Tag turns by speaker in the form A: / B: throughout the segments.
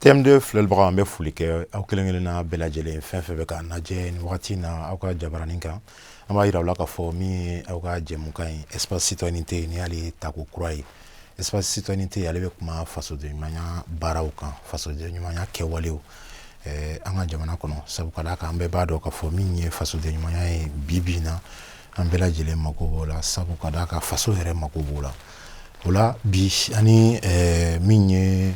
A: TM2 filɛlibagaw an bɛ foli kɛ aw kelen kelen na bɛɛ lajɛlen fɛn fɛn bɛ k'an lajɛ nin wagati na aw ka jabaranin kan an b'a yira aw la k'a fɔ min ye aw ka jɛmukan ye espace citoyenneté nin y'ale tako kura ye espace citoyenneté ale bɛ kuma fasodenɲumanya baaraw kan fasodenɲumanya kɛwalew eh, an ka jamana kɔnɔ sabu ka d'a kan an bɛɛ b'a dɔn k'a fɔ min ye fasodenɲumanya ye bi bi in na an bɛɛ lajɛlen mako b'o la sabu ka d'a kan faso yɛrɛ mako b'o la o la bi an ni eh, min ye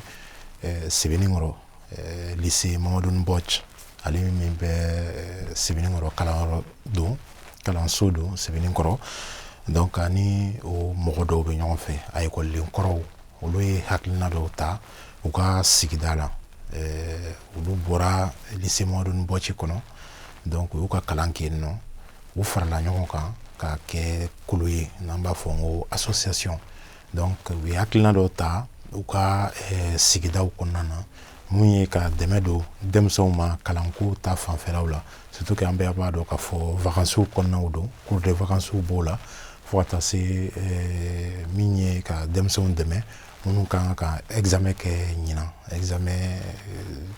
A: eh, sɛbɛnninkɔrɔ eh, lycée Mamadou M'Bodj ale min bɛ eh, sɛbɛnninkɔrɔ kalanyɔrɔ don kalanso don sɛbɛnninkɔrɔ donc an ni o mɔgɔ dɔw bɛ ɲɔgɔn fɛ a ekɔliden kɔrɔw olu ye hakilina dɔw ta u ka sigida la eh, olu bɔra lycée Mamadou M'Bodj kɔnɔ donc u y'u ka kalan kɛ yen nɔ u farala ɲɔgɔn kan ka kɛ kulu ye n'an b'a fɔ n ko association donc u ye hakilina dɔ ta u ka eh, sigidaw kɔnɔna na mun ye ka dɛmɛ don denmisɛnw ma kalanko ta fanfɛlaw la surtout que an bɛɛ b'a dɔn k'a fɔ vakansiw kɔnɔnaw don cours de vakansiw b'o la fo ka taa se eh, min ye ka denmisɛnw dɛmɛ minnu ka kan ka examen kɛ ɲinan examen eh,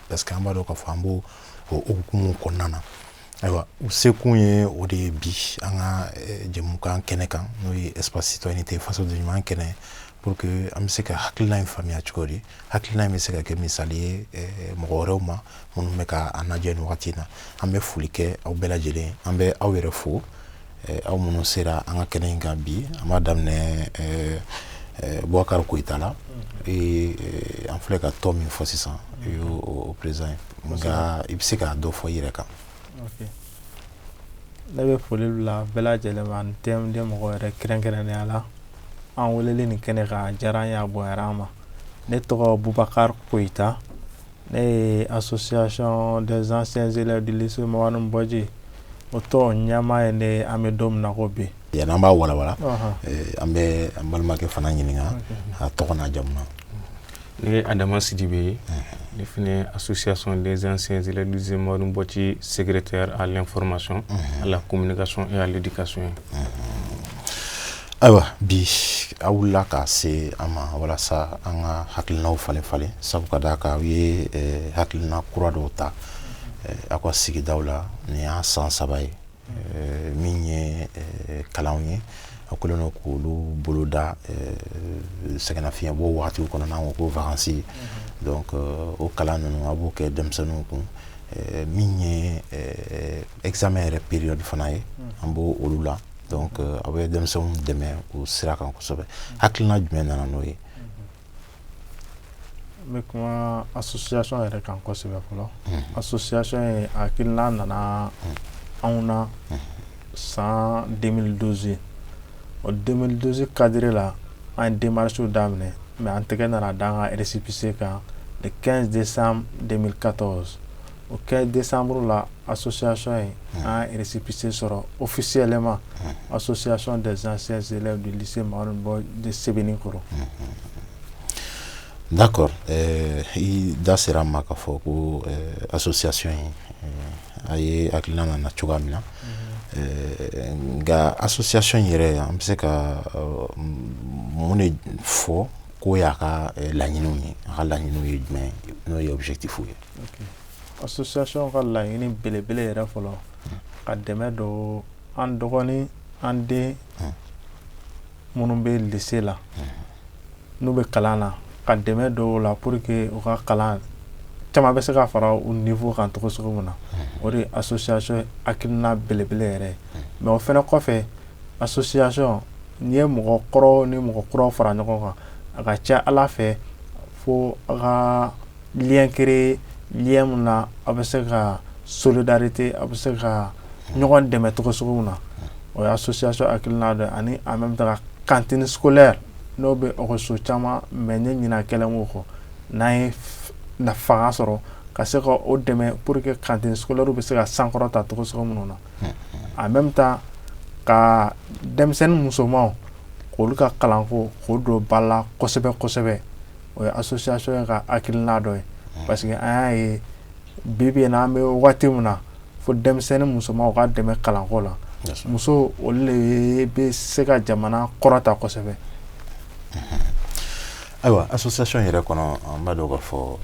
A: parce que an b'a dɔn k'a fɔ an b'o hukumu kɔnɔna na ayiwa u sekun ye o de ye bi an ka eh, jɛmukan kɛnɛ kan n'o ye espace citoyenneté fasoden ɲuman kɛnɛ pour que an bɛ se ka hakilina in faamuya cogo di hakilina in bɛ se ka kɛ misali ye eh, mɔgɔ wɛrɛw ma minnu bɛ ka an lajɛ nin wagati na an bɛ foli kɛ aw bɛɛ lajɛlen an bɛ aw yɛrɛ fo Eh, aw minnu sera an ka kɛnɛ in kan bi an b'a daminɛ eh, eh, bubakari koyita la mm. an filɛ ka tɔn min fɔ sisan i mm. y'o président ye nka i bɛ se ka dɔ fɔ i yɛrɛ kan
B: ne bɛ foli bila bɛɛ lajɛlen ma ani TM2 mɔgɔ yɛrɛ kɛrɛnkɛrɛnnenya la an welelen nin kɛnɛ kan a diyara an ye a bonyara an ma ne tɔgɔ bubakari koyita ne ye association des anciens élèves du lycée Mamadou M'Bodj o tɔn ɲɛmaa ye ne an bɛ don min na ko bi. Yanni an b'a walawala
A: eh, an bɛ an balimakɛ fana ɲininka a tɔgɔ n'a jamu na. Ne
C: ye Adama Sidibe ye ne fana ye association des anciens élèves du lycée Mamadou M'Bodj secrétaire à l'information à la communication et à l'éducation ye.
A: ayiwa bi aw wulila ka se an ma walasa an ka hakilinaw falen falen sabu ka d'a kan aw ye eh, hakilina kura dɔw ta eh, aw ka sigidaw la nin y'a san saba ye eh, min ye kalanw ye aw kɛlen don k'olu boloda sɛgɛnnafiɲɛbɔ wagatiw kɔnɔ n'an ko ko vakansi mm-hmm. donc o kalan ninnu aw b'o kɛ denmisɛnninw kun min ye examen yɛrɛ période fana ye mm-hmm. an b'olu la donc euh, aw bɛ denmisɛnw dɛmɛ o sira kan kosɛbɛ hakilina jumɛn nana n'o ye n
B: bɛ kuma association yɛrɛ kan kosɛbɛ fɔlɔ association ye hakilina nana anw na san 2012 o 2012 cadre la an ye démarche daminɛ mais an tɛgɛ nana da an ka récépissé kan le 15 décembre 2014 o kɛ de sanuru la a sososasɔn ye an yɛrɛsipse sɔrɔ o fisiyɛlɛma a sososasɔnon dezsɛnse ma bɔ de sɛbɛnnen kɔrɔ
A: n'a kɔrɔ i da sera a ma ka fɔ ko a sososasiy ye a ye hakili nana cogoya min na nka a sososasɔnon in yɛrɛ an bɛ se ka mun de fɔ ko y'a ka laɲini ye a ka laɲini ye jumɛn n'o yeti foyi ye
B: Association ka laɲini belebele yɛrɛ fɔlɔ ka dɛmɛ don an dɔgɔnin an den minnu bɛ lycée la n'u bɛ kalan na ka dɛmɛ don u la pour que u ka kalan caman bɛ se ka fara u niveau kan cogo sugu min na o de association hakilina belebele yɛrɛ mais o fana kɔfɛ association n'i ye mɔgɔ kɔrɔ ni mɔgɔ kura fara ɲɔgɔn kan a ka ca a la fɛ fo a ka liɔnke liya min na a bɛ se ka solidarte a bɛ se ka ɲɔgɔn dɛmɛ tɔgɔsow na o y'a sosoya sɔrɔ akiina dɛ ani an bɛ taa kantisoɛ n'o bɛ ɔso caman mɛ ne ɲin kɛlen wo kɔ n'a ye fanga sɔrɔ ka se ka o dɛmɛ po que kansoɛ bɛ se ka sankɔrɔ ta tɔgɔso minnu na a bɛ taa ka denmisɛnnin musoman olu ka kalanko' don ba la kosɛbɛ kosɛbɛ o ye association ye ka hakilina dɔ ye parce que an y'a ye bi bi in na an bɛ waati min na fo denmisɛnnin musomanw ka dɛmɛ kalanko la muso olu de bɛ se ka jamana kɔrɔta kosɛbɛ
A: ayiwa association yɛrɛ kɔnɔ an b'a dɔn k'a fɔ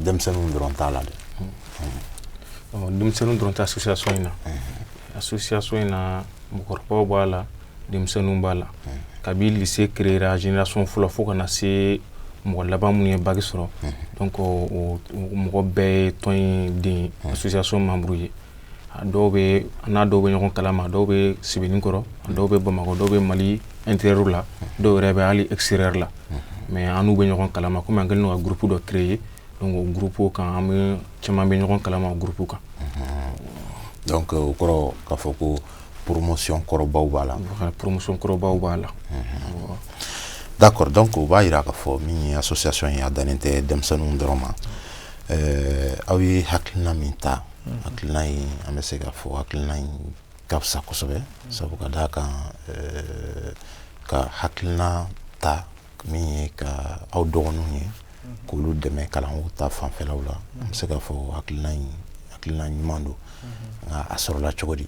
A: denmisɛnninw dɔrɔn t'a la dɛ
C: denmisɛnninw dɔrɔn tɛ association in na association in na mɔgɔkɔrɔba b'a la denmisɛnninw b'a la kabi lycée créera génération fɔlɔ fo ka na se mɔgɔ laban minnu ye bac sɔrɔ donc o mɔgɔ bɛɛ ye tɔn in den association membre ye dɔw bɛ an n'a dɔw bɛ ɲɔgɔn kalama dɔw bɛ Sebenikɔrɔ dɔw bɛ bamakɔ dɔw bɛ mali intérieur la dɔw yɛrɛ bɛ hali extérieur la mais an n'u bɛ ɲɔgɔn kalama kɔmi an kɛlen ka groupe dɔ créer o groupe kan an bɛ caman bɛ ɲɔgɔn kalama o groupe kan
A: donc o kɛra kɔrɔ k'a fɔ ko promotion kɔrɔbaw b'a la promotion kɔrɔbaw
C: b'a
A: la d'accord donc o b'a yira k'a fɔ min ye association ye a dannen tɛ denmisɛnninw dɔrɔn ma euh, aw ye hakilina min ta mhm. hakilina in an bɛ se k'a fɔ hakilina in ka fisa kosɛbɛ sabu ka d'a kan euh, ka hakilina ta min ye ka aw dɔgɔninw ye k'olu dɛmɛ kalanko ta fanfɛlaw la an bɛ se k'a fɔ hakilina ɲuman don nka a sɔrɔla cogo di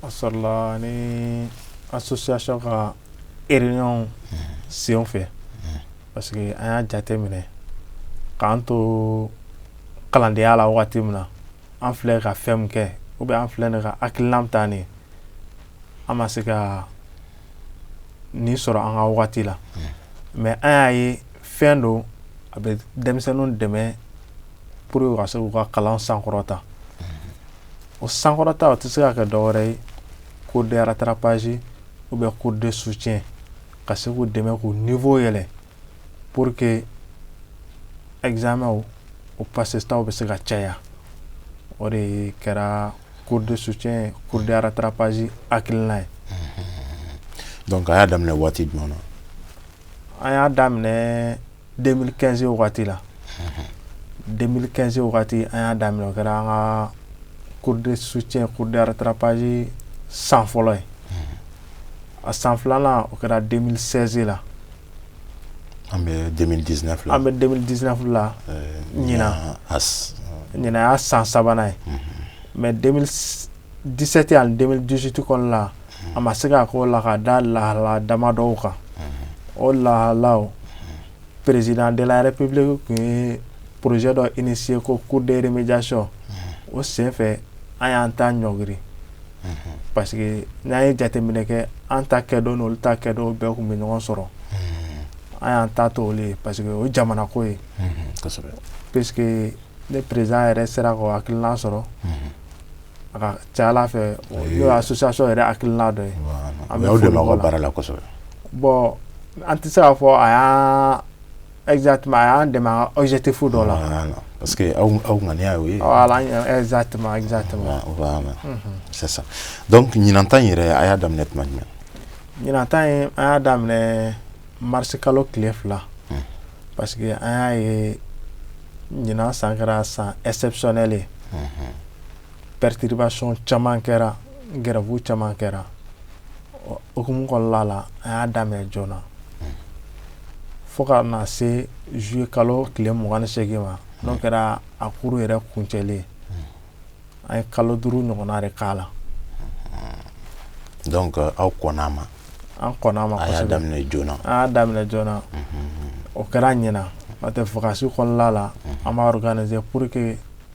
B: a sɔrɔla ni association ka réunion sen fɛ parce que an y'a jate minɛ k'an to kalandenya la wagati min na an filɛ ka fɛn min kɛ ou bien an filɛ nin ka hakilina min ta nin ye an ma se ka nin sɔrɔ an ka wagati la mais an y'a ye fɛn don a bɛ denmisɛnninw dɛmɛ pour ka se k'u ka kalan sankɔrɔta o sankɔrɔta o tɛ se ka kɛ dɔwɛrɛ ye cours de rattrapage ou bien cours de soutien ka se k'u dɛmɛ k'u niveau yɛlɛ pour que examen o pasestaw bɛ se ka caya o de kɛra cours de soutien cours de rattrapage hakilina ye
A: donc a y'a daminɛ waati jumɛn na an
B: y'a daminɛ 2015 wagati la 2015 wagati an y'a daminɛ o kɛra an ka cours de soutien cours de rattrapage san fɔlɔ ye a san filanan o kɛra den sɛze la
A: an bɛ den di fila an bɛ den di
B: fila ɲin ɲin y'a san sabanan ye mɛ disɛ tɛ an den dusutu kɔnɔna la a ma se k' ko la ka da lahala dama dɔw kan o lahala perezd yɛrɛ pebile tun ye poroz dɔ i ni se ko ko den bɛ ja sɔ o senfɛ an y'an taa ɲɔri parce que n'an ye jateminɛ kɛ an ta kɛdon n'olu ta kɛdon bɛɛ tun bɛ ɲɔgɔn sɔrɔ an y'an ta to olu ye parce que o ye jamana ko ye puisque ni président yɛrɛ sera k'o hakilina sɔrɔ a ka c'a la fɛn association yɛrɛ hakilina dɔ ye an
A: bɛ la bon
B: an tɛ se k'a fɔ a Exactement a y'an dɛmɛ an ka objectif dɔ la voilà parce que aw
A: m aw ŋaniya y'o ye voilà an ŋa exactement
B: exactement ɔ voilà unhun
A: c'est ça donc ɲinan ta in yɛrɛ a y'a daminɛ tuma jumɛn ɲinan ta
B: in an y'a daminɛ mars kalo tile 2 unhun parce que an y'a ye ɲinan san kɛra san exceptionnel ye unhun perturbation caman kɛra grève caman kɛra o hukumu kɔnɔla la an y'a daminɛ joona fo ka na se juillet kalo tile mugan ni segin ma n'o kɛra a cours yɛrɛ kuncɛlen an ye kalo duuru ɲɔgɔnna de k'a
A: la aw kɔnn'a ma an kɔnn'a
B: ma a y'a daminɛ joona
A: an y'a daminɛ joona
B: o kɛra ɲinan n'o tɛ vacances kɔnɔla la an b'a organiser pour que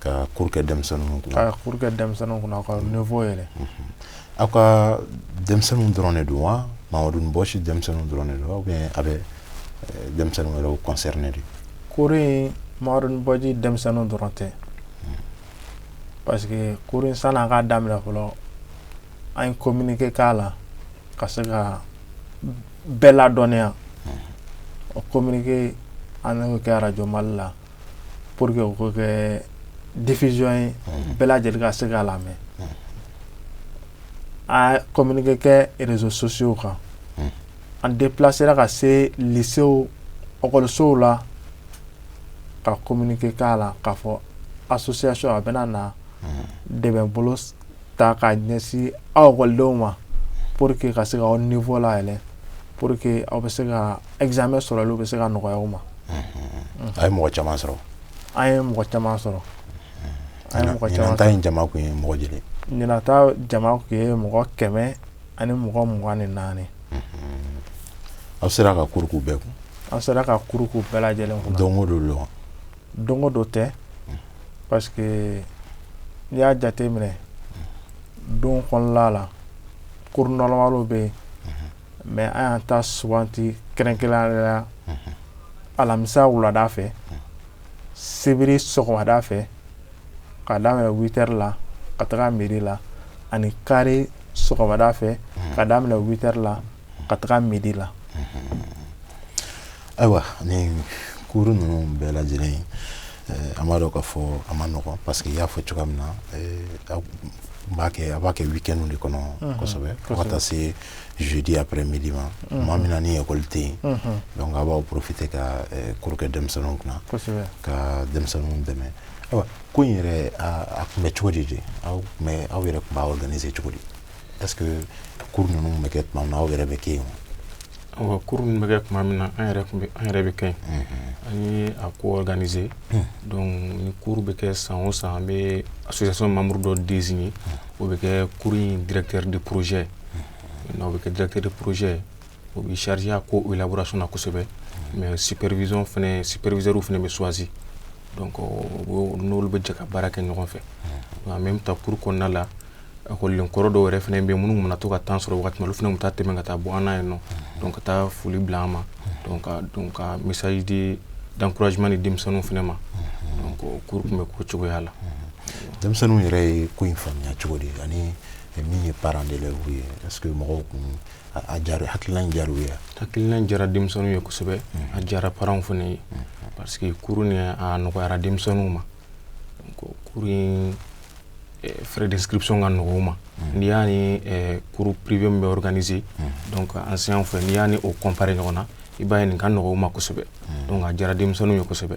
B: ka cours
A: kɛ denmisɛnninw kunna ka cours kɛ
B: denmisɛnninw kunna ka niveau yɛlɛ aw
A: ka denmisɛnninw dɔrɔn de don wa Mamadou M'Bodj denmisɛnninw dɔrɔn de don ou bien a bɛ denmisɛnnin wɛrɛw concerner de cours in
B: Mamadou M'Bodj denmisɛnninw dɔrɔn tɛ parce que cours in sanni an k'a daminɛ fɔlɔ an ye communiqué k'a la ka se ka bɛɛ ladɔnniya o communiqué an y'o kɛ radio Mali la pour que o ka kɛ diffusion ye bɛɛ lajɛlen ka se k'a lamɛn a communiqué kɛ réseaux sociaux kan an déplacéra ka se lycéew ekɔlisow la ka communiqué k'a la k'a fɔ association a bɛna na dɛmɛbolo ta ka ɲɛsin aw ekɔlidenw ma pour que ka se ka aw niveau layɛlɛ pour que aw bɛ se ka examen sɔrɔliw bɛ se ka nɔgɔya aw ma a ye
A: mɔgɔ caman sɔrɔ an ye mɔgɔ
B: caman
A: sɔrɔ ɲinan ta in jama tun ye mɔgɔ joli ɲinan
B: ta jama tun ye mɔgɔ kɛmɛ ani mɔgɔ mugan ni
A: naani aw sera ka cours k'u bɛɛ kun an sera ka cours
B: k'u bɛɛ lajɛlen kun don o don
A: Don dɔ tɛ
B: pa n y'a jate minɛ don kɔnɔla la koɔrɔn bɛ yen mɛ an y'an ta sugante kɛrɛn kelen alamisa wulada fɛ sebiri sɔgɔmada fɛ ka wtari la ka taga mi la ani kariri sɔgɔmada fɛ ka wtari la ka taga midi
A: la ayiwa ni cours ninnu bɛɛ lajɛlen eh, an b'a dɔn k'a fɔ a man nɔgɔn parce que i y'a fɔ cogoya min na eh, a b'a kɛ a b'a kɛ weekend de kɔnɔ mhm. kosɛbɛ fo ka taa se jeudi après midi ma mhm. maa min na ni école tɛ yen mhm. donc a b'aw profiter ka eh, cours kɛ denmisɛnninw kunna ka denmisɛnninw dɛmɛ ayiwa cours in yɛrɛ a tun bɛ cogo di de aw tun bɛ aw yɛrɛ tun b'a organiser cogo di Est-ce que cours ninnu bɛ kɛ tuma min na aw yɛrɛ bɛ kɛ yen wa? cours ninnu bɛ kɛ
C: tuma min na an yɛrɛ tun bɛ an yɛrɛ bɛ kɛ yen an ye a ko organiser donc ni cours bɛ kɛ san o san an bɛ association membre dɔ désigner o bɛ kɛ cours in directeur de projet o bɛ kɛ directeur de projet o bɛ charger a ko élaboration na kosɛbɛ mais supervision fana superviseurs fana bɛ choisi donc o b'o n'olu bɛ jɛ ka baara kɛ ɲɔgɔn fɛ en même temps cours kɔnɔna la ekɔliden kɔrɔ dɔw yɛrɛ fana bɛ yen minnu mana to ka temps sɔrɔ waati min olu fana bɛ taa tɛmɛ ka taa bɔ an ye nɔ donc ka taa foli bila an ma donc ka message d'encouragement di denmisɛnninw fana ma donc cours tun bɛ k'o cogoya la denmisɛnninw
A: yɛrɛ ye ko in faamuya cogo di ani min ye parents d'élèves ye est ce que mɔgɔw kun a diyara hakilina in diyara u ye hakilina in diyara denmisɛnninw
C: ye kosɛbɛ a diyara parents fana ye parce que cours nin a nɔgɔyara denmisɛnninw ma donc eh, frais d'inscription ka nɔgɔ u ma n'i y'a ni eh, cours privé min bɛ organiser donc enseignant fɛ n'i y'a ni o comparer ɲɔgɔn na i b'a ye nin ka nɔgɔ u ma kosɛbɛ donc a diyara denmisɛnninw ye kosɛbɛ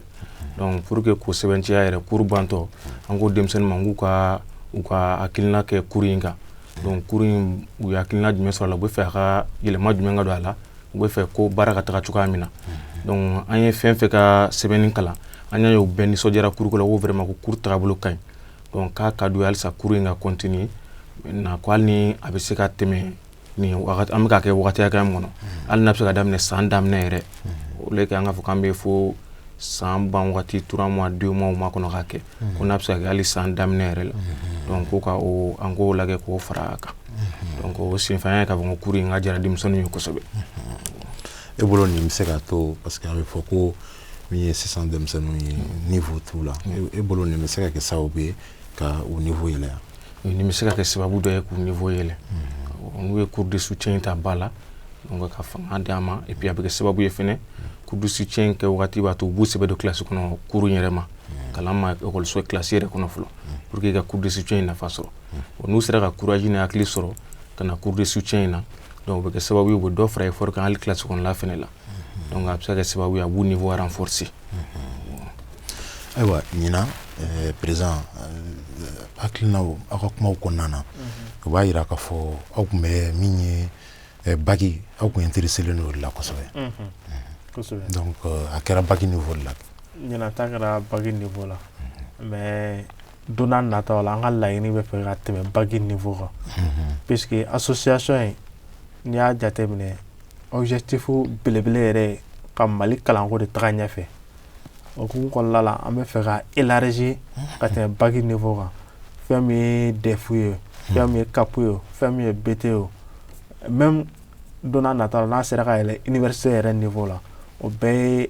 C: donc pour que k'o sɛbɛntiya yɛrɛ cours bantɔ an ko denmisɛnnin ma k'u ka u ka hakilina kɛ cours in kan donc cours in u ye hakilina jumɛn sɔrɔ a la u bɛ fɛ a ka yɛlɛma jumɛn ka don a la u bɛ fɛ ko baara ka taga cogoya min na donc an ye fɛn fɛn ka sɛbɛnni kalan an y'a ye u bɛɛ nisɔndiyara cours ko la ko vraiment ko cours tagabolo ka ɲi donc k'a ka d'u ye halisa cours in ka continuer maintenant ko hali ni a bɛ se ka tɛmɛ nin an bɛ k'a kɛ waati hakɛ min kɔnɔ hali n'a bɛ se ka daminɛ san daminɛ yɛrɛ au lieu que an k'a fɔ an bɛ fo san ban waati trois mois deux mois ma kɔnɔ k'a kɛ ko n'a bɛ se ka kɛ san daminɛ yɛrɛ la donc ko ka an k'o lajɛ k'o fara a kan donc o senfɛ an y'a ye k'a fɔ ko cours in ka diyara denmisɛnnin ye kosɛbɛ
A: e bolo nin bɛ se ka to parce que a bɛ fɔ ko min ye sisan denmisɛnninw ye niveau t'u la e bolo nin bɛ se ka kɛ sababu ye ka u niveau yɛlɛya nin bɛ se ka kɛ
C: sababu dɔ ye k'u niveau yɛlɛ n'u ye cours de soutien ta ba la donc ka fanga d'a ma et puis a bɛ kɛ sababu ye fɛnɛ cours de soutien kɛ wagati b'a to u b'u sɛbɛ don classe kɔnɔ cours yɛrɛ ma kalan ma ekɔliso classe yɛrɛ kɔnɔ fɔlɔ pour que ka cours de soutien in nafa sɔrɔ n'u sera ka courage ni hakili sɔrɔ ka na cours de soutien in na donc o bɛ kɛ sababu ye u bɛ dɔ fara effort kan hali classe kɔnɔla fɛnɛ la don a bɛ se ka sababu a b'u ni fɔran fsi
A: ayiwa ɲin perez hakiliina aw ka kuma kɔnɔna na u b'a jira k ka fɔ aw tun bɛ min ye ba aw tun ye teri seli n'o la kosɛbɛ a kɛra ba ni fɔ la ɲ kɛra
B: ba de fɔ la Don n'a nataw la an ka laɲini bɛ fɛ ka tɛmɛ bac niveau kan unhun puisque association in n'i y'a jateminɛ objectif belebele yɛrɛ ye ka Mali kalanko de taga ɲɛfɛ o hukumu kɔnɔna la an bɛ fɛ ka élargir ka tɛmɛ bac niveau kan fɛn min ye DEF ye o fɛn min ye CAP ye o fɛn min ye BT ye o même don n'a nataw la n'a sera ka yɛlɛ université yɛrɛ niveau la o bɛɛ ye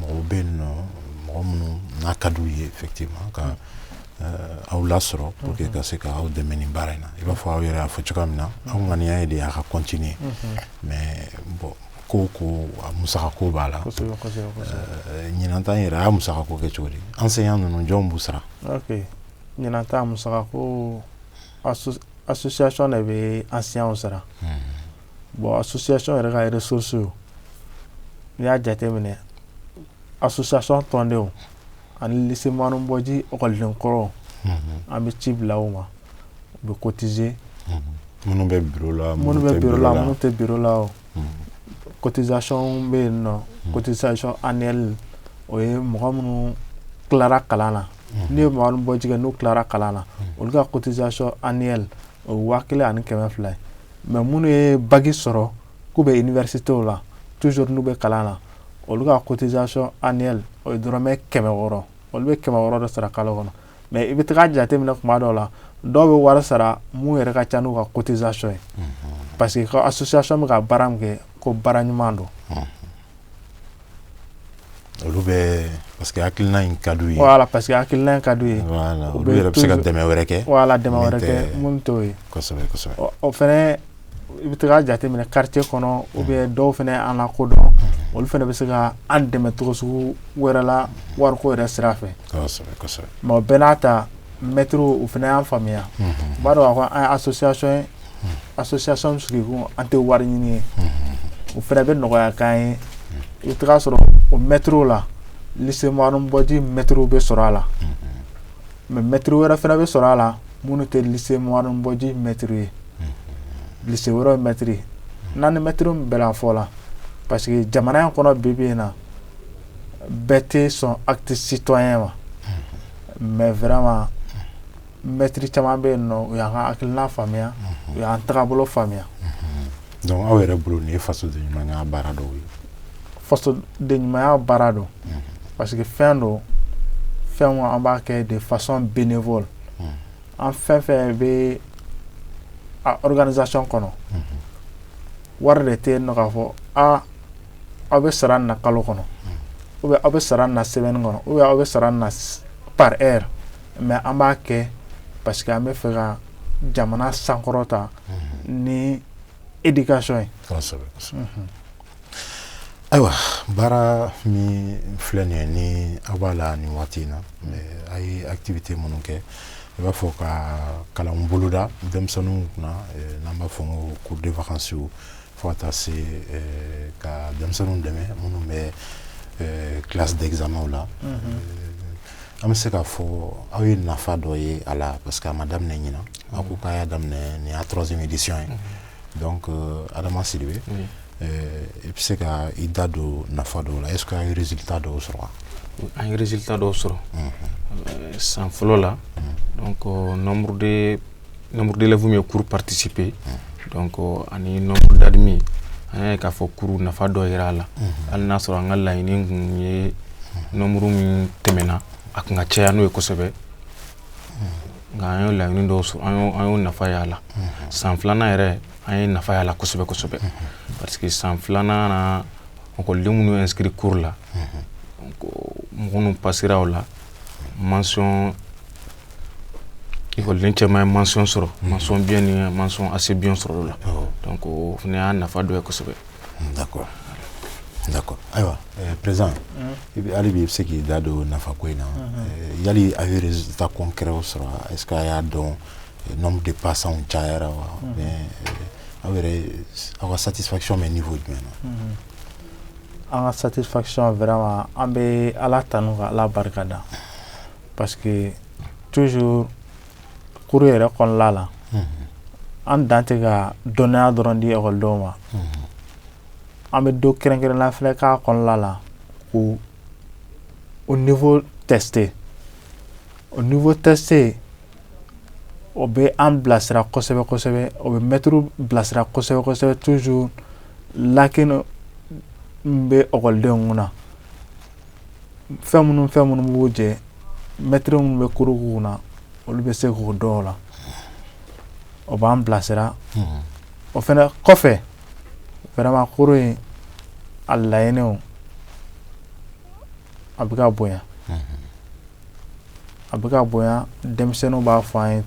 A: Mɔgɔw bɛ yen nɔ mɔgɔ minnu n'a ka d'u ye effectivement ka aw lasɔrɔ pour que ka se k' aw dɛmɛ ni baara in na i b'a fɔ aw yɛrɛ y'a fɔ cogoya min na aw ŋaniya ye de a ka continuer mais bon ko a musaka ko b'a la ɲinan ta yɛrɛ a y'a musaka ko kɛ cogo di enseignant ninnu jɔn b'u sara
B: ɲinan ta musaka ko association de bɛ enseignant sara bɔn a susiyasiɔn yɛrɛ ka yɛrɛ soso ye n y'a jate minɛ a susasɔnon tɔndenw ani seman bɔji ɔkɔliden kɔrɔ an bɛ ci bila o ma u bɛ kotize minnu
A: bɛ la minnu bɛ la minnu tɛ
B: bi la o kotizcɔn bɛ yen nɔ kotizcɔn anli o ye mɔgɔ minnu tilara kalan na n' ye bɔjɛ n'u tilara kalan na olu ka kotizac anli o ye waa kelen ani kɛmɛ fila ye mais minnu ye baki sɔrɔ k'u bɛ université la toujours n'u bɛ kalan na olu ka cotisation annuelle o ye dɔrɔmɛ kɛmɛ wɔɔrɔ olu bɛ kɛmɛ wɔɔrɔ dɔ sara kalo kɔnɔ mais i bɛ taga jateminɛ kuma dɔw la dɔw bɛ wari sara min yɛrɛ ka ca n'u ka cotisation ye parce que ka association bɛ ka baara min kɛ ko baara ɲuman don
A: olu bɛ parce que hakilina in ka d'u ye voilà parce que hakilina in
B: ka d'u ye olu yɛrɛ bɛ se ka
A: dɛmɛ wɛrɛ kɛ voilà dɛmɛ wɛrɛ kɛ
B: minnu t'o ye o
A: fɛnɛ
B: i bɛ taga jateminɛ quartier kɔnɔ ou bien dɔw fɛnɛ an lakodɔn olu fɛnɛ bɛ se ka an dɛmɛ cogo sugu wɛrɛ la wariko yɛrɛ sira fɛ
A: mais o bɛɛ n'a ta
B: mɛtiriw u fɛnɛ y'an faamuya u b'a dɔn ko an association ye a sosoya sanu sigi an tɛ wari ɲini ye o fana bɛ nɔgɔyakan ye i taga sɔrɔ o mɛto la bɔdi mɛto bɛ sɔrɔ a la mɛ mɛto wɛrɛ fana bɛ sɔrɔ a la minnu tɛ bɔdi mɛto ye wɛrɛ mɛtiriri n'an ni mɛto bɛ fɔ la pa que jamana in kɔnɔ bɛ bɛ yen na bɛɛ tɛ sɔn a tɛ si tɔn ye ma mɛ wɛrɛ ma mɛtiri caman bɛ yen nɔ u y'an ka hakilina faamuya u y'an tagabolo faamuya
A: donc aw yɛrɛ bolo nin ye fasoden ɲumanya baara dɔw ye fasoden
B: ɲumanya baara don parce que fɛn don fɛn min an b'a kɛ de façon bénévole an fɛn fɛn bɛ a organisation kɔnɔ wari de tɛ yen nɔ k'a fɔ a aw bɛ sara nin na kalo kɔnɔ ou bien aw bɛ sara nin na semaine kɔnɔ ou bien aw bɛ sara nin na par heure mais an b'a kɛ parce que an bɛ fɛ ka jamana sankɔrɔta ni éducation ye
A: ayiwa baara min filɛ nin ye ni aw b'a la nin waati in na a ye activité minnu kɛ i b'a fɔ ka kalan boloda denmisɛnninw kunna n'an b'a fɔ ko cours de vacances Fo ka taa se ka denmisɛnninw dɛmɛ minnu bɛ classe d'examenw la an bɛ se k'a fɔ aw ye nafa dɔ ye a la parce que a ma daminɛ ɲinan a ko k'a y'a daminɛ nin y'a troisième édition ye donc Adama Sidibe i bɛ se ka i da don nafa dɔw la est-ce que a ye résultat dɔw sɔrɔ an ye
C: résultat dɔw sɔrɔ san fɔlɔ la donc nombre de nombre d'élèves min ye cours participer donc ani nombre d'admis an y'a ye k'a fɔ cours nafa dɔ yera a la hali n'a sɔrɔ an ka laɲini kun ye nombre min tɛmɛna a kun ka caya n'o ye kosɛbɛ nka an y'o laɲini dɔw sɔrɔ an y'o an y'o nafa y'a la san filanan yɛrɛ an ye nafa y'a la kosɛbɛ kosɛbɛ parce que san filanan na ekɔliden minnu inscrit cours la mɔgɔ minnu passera o la manɔn ikɔlen cɛ ye manɔn sɔrɔ ma bi ni ma ase bi sɔrɔ la ko ne y'a nafa dɔ kosɛbɛ
A: ayiwa pz i bɛ ala bɛ se k'i da don nafa ko in na ya ata kɔn kɛra sɔrɔ a y'a dɔn n de pasaw cayayara wa aw yɛrɛ aw ka satifati min nin fɔ jumɛn na an ka
B: satisfaction vraiment an bɛ Ala tanu ka Ala barika da parce que toujours cours yɛrɛ kɔnɔna la an dan tɛ ka dɔnniya dɔrɔn di ekɔlidenw ma an bɛ don kɛrɛnkɛrɛnnen fana k'a kɔnɔna la k'u niveau tester u niveau tester o bɛ an bilasira kosɛbɛ kosɛbɛ o bɛ mɛtiriw bilasira kosɛbɛ kosɛbɛ toujours lacune min bɛ ekɔlidenw kunna fɛn minnu fɛn minnu b'u jɛ mɛtiri minnu bɛ cours k'u kunna olu bɛ se k'o dɔn o la o b'an bilasira o fana kɔfɛ vraiment cours in a laɲiniw a bɛ ka bonya a bɛ ka bonya denmisɛnninw b'a fɔ an ye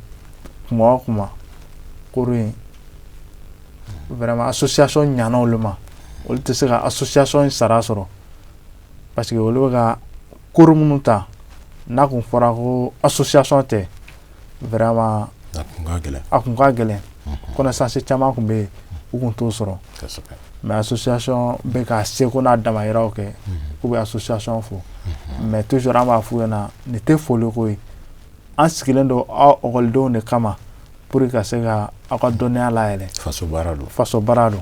B: kuma o kuma cours in vraiment association ɲana olu ma olu tɛ se ka association sara sɔrɔ parce que olu bɛ ka cours minnu ta n'a kun fɔra ko association tɛ vraiment a kun ka gɛlɛn connaissance caman kun bɛ yen u kun t'o sɔrɔ mais association bɛ k'a seko n'a damayiraw kɛ k'u bɛ association fo mais toujours an b'a f'u ɲɛna nin tɛ foli ko ye an sigilen don aw ekɔlidenw de kama pour que ka se ka aw ka dɔnniya layɛlɛ faso baara don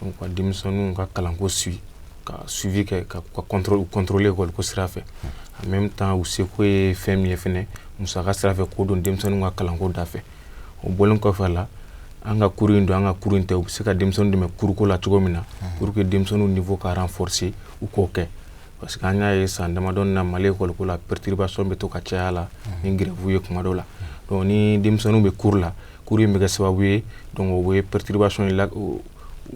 C: donc ka denmisɛnninw ka kalanko suivi ka suivi kɛ ka ka contrôle u contrôler école ko sira fɛ en même temps u seko ye fɛn min ye fɛnɛ musaka sira fɛ k'o don denmisɛnninw ka kalanko da fɛ o bɔlen kɔfɛ a la an ka cours in don an ka cours in tɛ u bɛ se ka denmisɛnninw dɛmɛ cours ko la cogo min na pour que denmisɛnninw niveau ka renforcer u k'o kɛ parce que an y'a ye san damadɔ in na Mali école ko la perturbation bɛ to ka caya a la ni grève ye tuma dɔw la donc ni denmisɛnninw bɛ cours la cours in bɛ kɛ sababu ye donc o bɛ perturbation in la o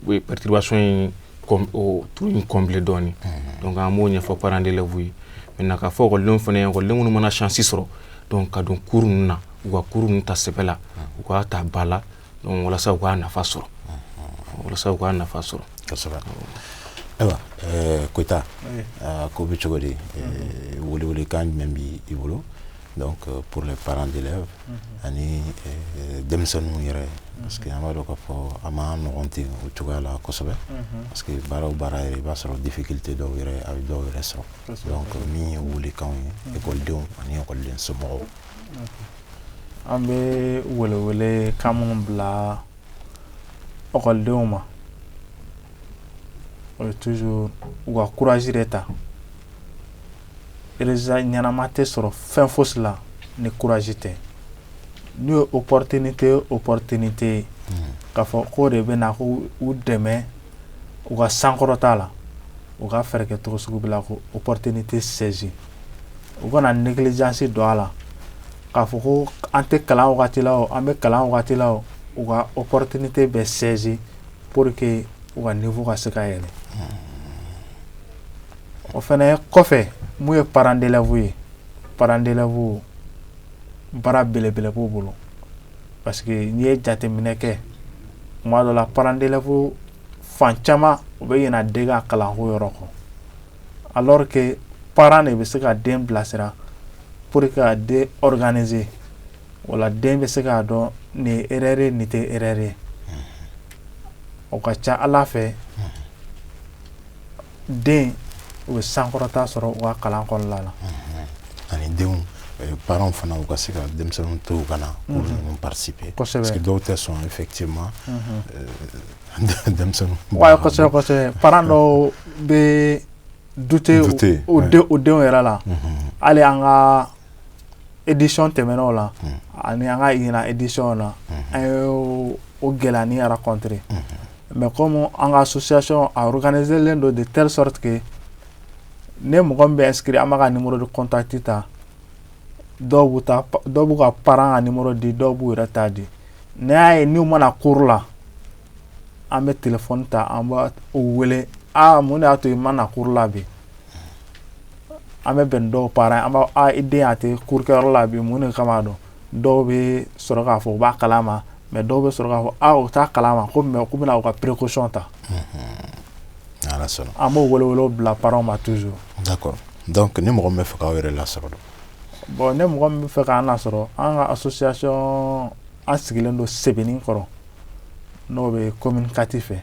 C: o ye perturbation in kɔn o trou in combler dɔɔnin donc an b'o ɲɛfɔ parents d'élèves ye maintenant k'a fɔ école denw fana ye école den minnu mana chance sɔrɔ donc ka don cours ninnu na u ka cours ninnu ta sɛbɛ la u k'a ta ba la donc walasa u k'a nafa sɔrɔ walasa u k'a nafa
A: sɔrɔ kosɛbɛ ayiwa ɛɛ Koyita ko bɛ cogo di welewelekan jumɛn b'i bolo. donc euh, pour les parents d'élèves ani euh, denmisɛnninw yɛrɛ parce que an b'a dɔn k'a fɔ a ma nɔgɔn ten o cogoya la kosɛbɛ parce que baara o baara yɛrɛ i b'a sɔrɔ difficulté dɔw yɛrɛ a bɛ dɔw yɛrɛ sɔrɔ donc min ye welekanw ye ekɔlidenw ani ekɔliden
B: somɔgɔw an bɛ welewelekan minnu bila ekɔlidenw ma o ye toujours u ka courage de ta résultat ɲɛnama tɛ sɔrɔ fɛn fosi la ni courage tɛ n'u ye opportunité opportunité ye k'a fɔ k'o de bɛ na k'u dɛmɛ u ka sankɔrɔta la u ka fɛɛrɛ kɛ cogo sugu bɛɛ la k'o opportunité saisir u kana négligence don a la k'a fɔ ko an tɛ kalan wagati la o an bɛ kalan wagati la o u ka opportunité bɛɛ saisir pour que u ka niveau ka se ka yɛlɛ o fɛnɛ kɔfɛ mun ye parents d'élèves ye parents d'élèves baara belebele b'u bolo parce que n'i ye jateminɛ kɛ tuma dɔ la parents d'élèves fan caman u bɛ ɲina den ka kalanko yɔrɔ kɔ alors que parents de bɛ se ka den bilasira pour que ka den organiser wala den bɛ se k'a dɔn nin erreur nin tɛ erreur o ka ca ala fɛ den u bɛ sankɔrɔta sɔrɔ u ka kalan kɔnɔna na
A: ani denw parents fana u ka se ka denmisɛnninw to ka na parce que dɔw tɛ sɔn
B: effectivement parents dɔw bɛ douter u denw yɛrɛ la hali an ka édition tɛmɛnenw la ani an ka ɲinan édition na an ye o gɛlɛya nin rencontrer mɛ kɔmi an ka association a organisé len don de telle sorte que ni mɔgɔ bɛ inscrit an b'a ka numéro de contact ta dɔw dɔw b'u ka parent ka numéro di dɔw b'u yɛrɛ ta di n y'a ye n'u ma na cours la an bɛ téléphone ta an b'u wele aaa mun y'a to i ma na cours la bi an bɛ bɛn dɔw parent an b'a i den a tɛ cours kɛyɔrɔ la bi mun de kama dɔn dɔw bɛ sɔrɔ k'a fɔ u b'a kala ma mɛ dɔw bɛ sɔrɔ k'a fɔ aw u taa kala ma ko mɛ bɛna aw ka perekkosɔn ta an b'o wolo bila baararaw ma tu kɔrɔ
A: ni mɔgɔ bɛ fɛ aw yɛrɛ la sɔrɔ bɔn ne
B: mɔgɔ bɛ fɛ k' sɔrɔ an ka sosoya an sigilen don sɛbɛnni kɔrɔ n'o bɛ kɔmi kati fɛ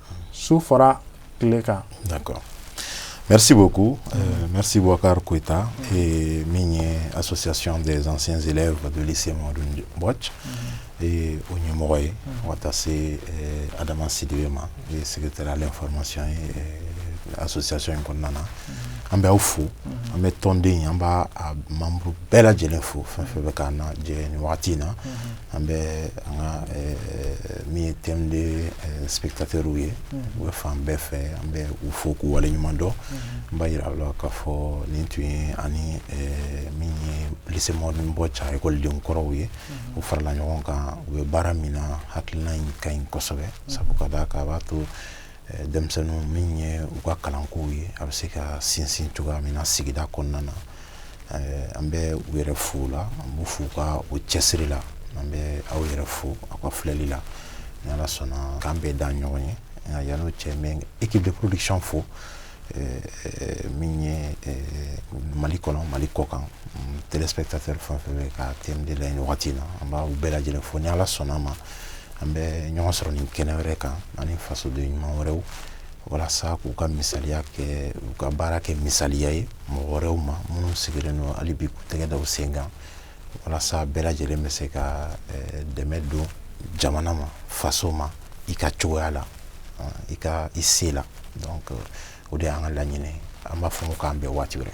B: su fara tile kan mɛsibo
A: ko mɛsibuka kota min ye a sɔsiyasi dezsen selen fajli se madu bɔ ee o ɲɛmɔgɔ ye mɔgɔ taa se adama sibi ma sigite ale fɔramasi a sɔsiyasi in kɔnɔna na an bɛ aw fo an bɛ tɔnden an b' mamudu bɛɛ lajɛlen fo fɛn fɛn bɛ ka jɛ waati in na an bɛ an ka min ye TM2 téléspectateurw ye u bɛ fan bɛɛ fɛ an bɛ u fo k'u wale ɲuman dɔn n b'a jira aw la k'a fɔ nin tun ye ani min ye lycée Mamadou M'Bodj ekɔliden kɔrɔw ye u farala ɲɔgɔn kan u bɛ baara min na hakilina in ka ɲi kosɛbɛ sabu ka d'a kan a b'a to Eh, denmisɛnninw min ye u ka kalankow ye a bɛ se ka sinsin cogoya min na sigida kɔnɔna na eh, an bɛ u yɛrɛ fo la an b'u fo ka o cɛsiri la an bɛ aw yɛrɛ fo aw ka filɛli la ni ala sɔnna k'an bɛɛ da ɲɔgɔn ye nka yan'o cɛ n bɛ équipe de production fo min ye mali kɔnɔ mali kɔ kan téléspectateur fɛn fɛn bɛ ka TM2 lajɛ nin wagati in na an b'aw bɛɛ lajɛlen fo ni ala sɔnna ma an bɛ ɲɔgɔn sɔrɔ ni kɛnɛ wɛrɛ kan ani fasoden ɲuman wɛrɛw walasa k'u ka misaliya kɛ u ka baara kɛ misaliya ye mɔgɔ wɛrɛw ma minnu sigilen don hali bi k'u tɛgɛ da u sen kan walasa bɛɛ lajɛlen bɛ se ka eh, dɛmɛ don jamana ma faso ma i ka cogoya la eh, i ka i se la donc o de y'an ka laɲini an b'a fɔ k'an bɛn waati wɛrɛ